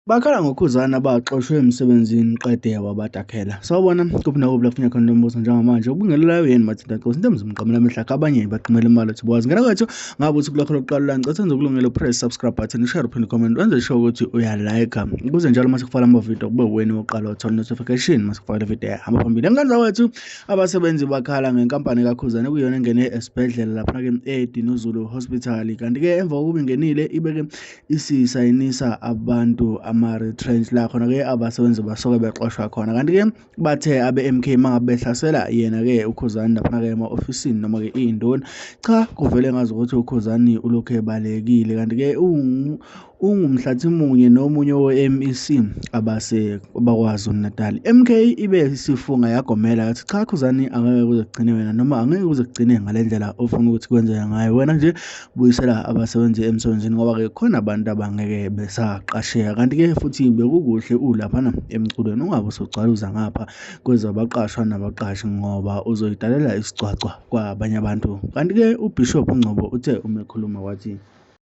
Bakhala ngokhuzana baxoshwe emsebenzini qede wabadakhela. Sawubona kuphi nakuphi la kufuneka khona lo mbuzo njengamanje ubungelelayo yini mathinta nkosi into emzimqamela amehla abanye baqhumela imali ukuthi bwazi ngena kwethu ngabe uthi kulakho lokuqala la ngicela senze ukulungela press subscribe button share uphinde comment wenze sure ukuthi uya like ukuze njalo mase kufala ama video kube wena oqala uthola notification mase kufala video hamba phambili engane zawethu abasebenzi bakhala ngenkampani kakhuzana kuyona engene esibhedlela lapha ke eDinuzulu Hospital kanti ke emva kokuba ingenile ibeke isisayinisa abantu ama-retrench la khona-ke abasebenzi basuke bexoshwa khona kanti-ke bathe abe-mk mangabe behlasela yena-ke ukhuzani laphana-ke ema-ofisini noma-ke iy'ndoni cha kuvele ngazi ukuthi ukhuzani ulokhu ebalekile kanti-ke ungumhlathi munye nomunye we-mec abakwazi unatal mk ibe isifunga yagomela yathi cha khuzani angeke kuze kugcine wena noma angeke kuze kugcine ngale ndlela ofuna ukuthi kwenzeka ngayo wena nje buyisela abasebenzi emsebenzini ngoba-ke khona abantu abangeke besaqasheka kanti-ke futhi bekukuhle ulaphana emculweni ungabe usugcwaluza ngapha kwezabaqashwa nabaqashi ngoba uzoyidalela isigcwagcwa kwabanye abantu kanti-ke ubishop ungcobo uthe uma ekhuluma wathi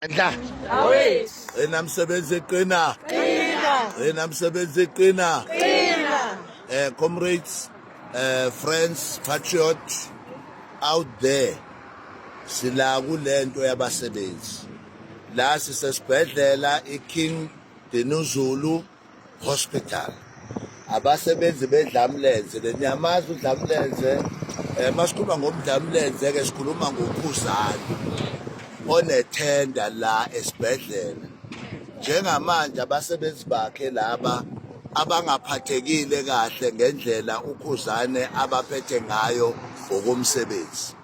Ndla. Ena msebenzi eqina. Qina. Ena msebenzi eqina. Qina. Eh comrades, eh friends, patriots out there. sila kulento yabasebenzi la sisesibhedlela iKing Dinuzulu Hospital abasebenzi bedlamlenze leniyamazi udlamlenze eh masikhuluma ngomdlamlenze ke sikhuluma ngokhuzana onethenda la esibhedlela njengamanje abasebenzi bakhe laba abangaphathekile kahle ngendlela ukhuzane abaphethe ngayo ngokomsebenzi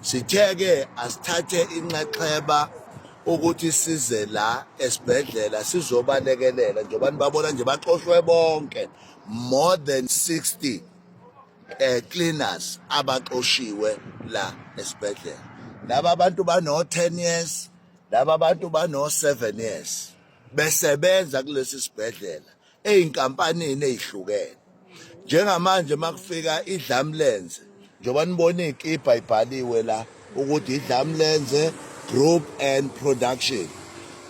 Sithe-ke asithathe inxexheba ukuthi size la esibhedlela sizobalekelela njengoba nibabona nje baxoshwe bonke more than 60 eh cleaners abaxoshiwe la esibhedlela laba bantu bano 10 years laba bantu bano 7 years besebenza kulesi sibhedlela ezinkampanini ezihlukene njengamanje makufika idlamlenze njengoba nibona ikipa ibhaliwe la ukuthi idlamlenze group and production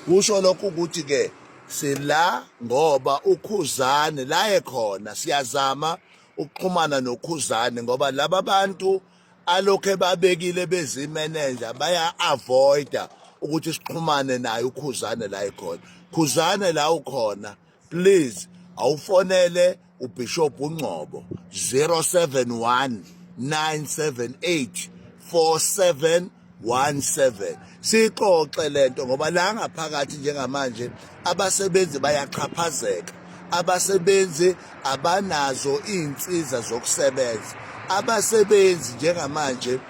kusho lokho ukuthi ke sila ngoba ukhuzane laye khona siyazama ukuxhumana nokhuzane ngoba laba bantu alokhe babekile bezimenenja baya-avoida ukuthi sixhumane naye ukhuzane la ekhona khuzane la ukhona please awufonele ubishop ungcobo 071 978 47 17 sixoxe lento ngoba la ngaphakathi njengamanje abasebenzi bayaxhaphazeka abasebenzi abanazo izinsiza zokusebenza abasebenzi njengamanje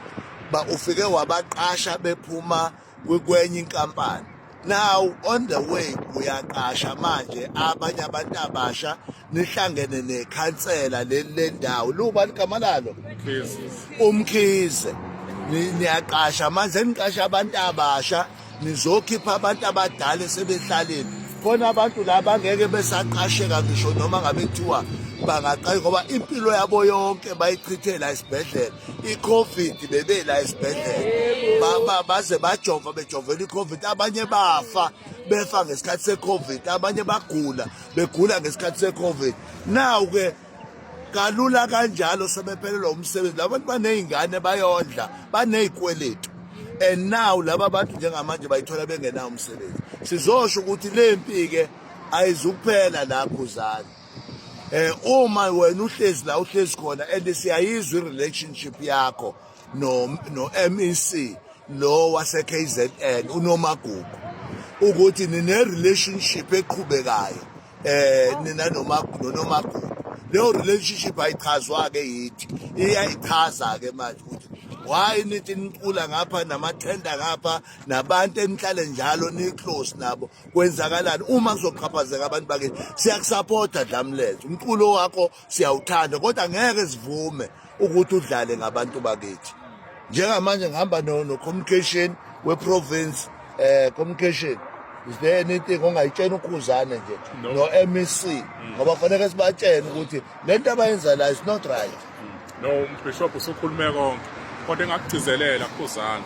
ba ufike wabaqasha bephuma kwenye inkampani now on the way uyaqasha manje abanye abantu abasha nihlangene nekhansela leli lendawo liwubani igama lalo umkhize niyaqasha manje niqasha abantu abasha nizokhipha abantu abadala esebehlaleni khona abantu la bangeke besaqasheka ngisho noma ngabe kuthiwa bangaqayi ngoba impilo yabo yonke bayichithela esibhedlela iCovid bebela esibhedlela baba baze bajova bejovela iCovid abanye bafa befa ngesikhathi seCovid abanye bagula begula ngesikhathi seCovid now ke kalula kanjalo sebephelelwa umsebenzi labantu banezingane bayondla banezikweletu and now laba bantu njengamanje bayithola bengenawo umsebenzi sizosho ukuthi lempi ke ayizukuphela lapho uzani eh uma wena uhlezi la uhlezi khona and siyayizwa relationship yakho no no MEC lo wase KZN unomagugu ukuthi nine relationship eqhubekayo eh nina noma nonomagugu leyo relationship ayichazwa ke yithi iyayichaza ke manje ukuthi why nithi nicula ngapha namathenda ngapha nabantu enihlale njalo ni-close nabo kwenzakalani uma kuzoqhaphazeka abantu bakini siyakusapota dlamlethe umculo wakho siyawuthanda kodwa ngeke sivume ukuthi udlale ngabantu bakithi njengamanje ngihamba no-communication we-province um communication is there anything ongayitshena ukhuzane nje no-mec ngoba kufaneke sibatshene ukuthi le nto abayenza la is not right no umbishop usukhulume konke kodwa engakugcizelela khuzana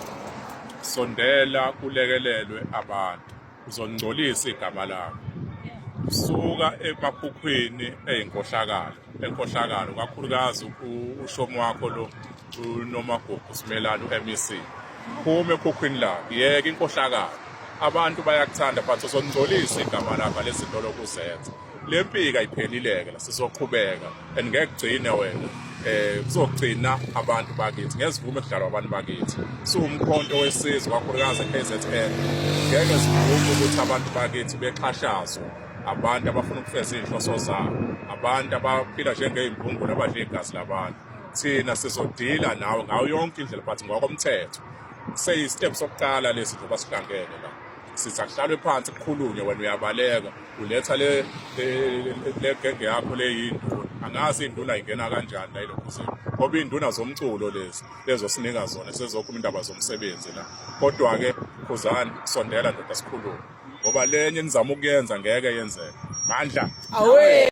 sondela kulekelelwe abantu uzongcolisa igama lakho suka emakhukhwini eyinkohlakalo enkohlakalo kakhulukazi ushomo wakho lo unomagugu simelana u-mec phume ekhukhwini lakho yeke inkohlakalo abantu bayakuthanda but uzongcolisa igama lakho lezintolo kuzenza le mpika iphelile-ke la sizoqhubeka and ngeke kugcine wena eh kuzogcina abantu bakithi ngezivume kudlalwa abantu bakithi siwumkhonto wesizwe kakhulukazi eKZN ngeke sivume ukuthi abantu bakithi bexhashazwe abantu abafuna ukufeza izinhloso zabo abantu abaphila njengey'mbungulu abadla igazi labantu thina sizodila nawe ngayo yonke indlela but ngokomthetho seyistep sokuqala lesi njengoba sihlangene la sithi akuhlalwe phansi kukhulunywe wena uyabaleka uletha le genge yakho leyinduna angazi induna ingena kanjani la elokhuzini ngoba iy'nduna zomculo lezi lezosinika zona sezokhuluma indaba zomsebenzi la kodwa-ke khuzani sondela ndoda sikhulume ngoba lenye enizama ukuyenza ngeke yenzeke mandla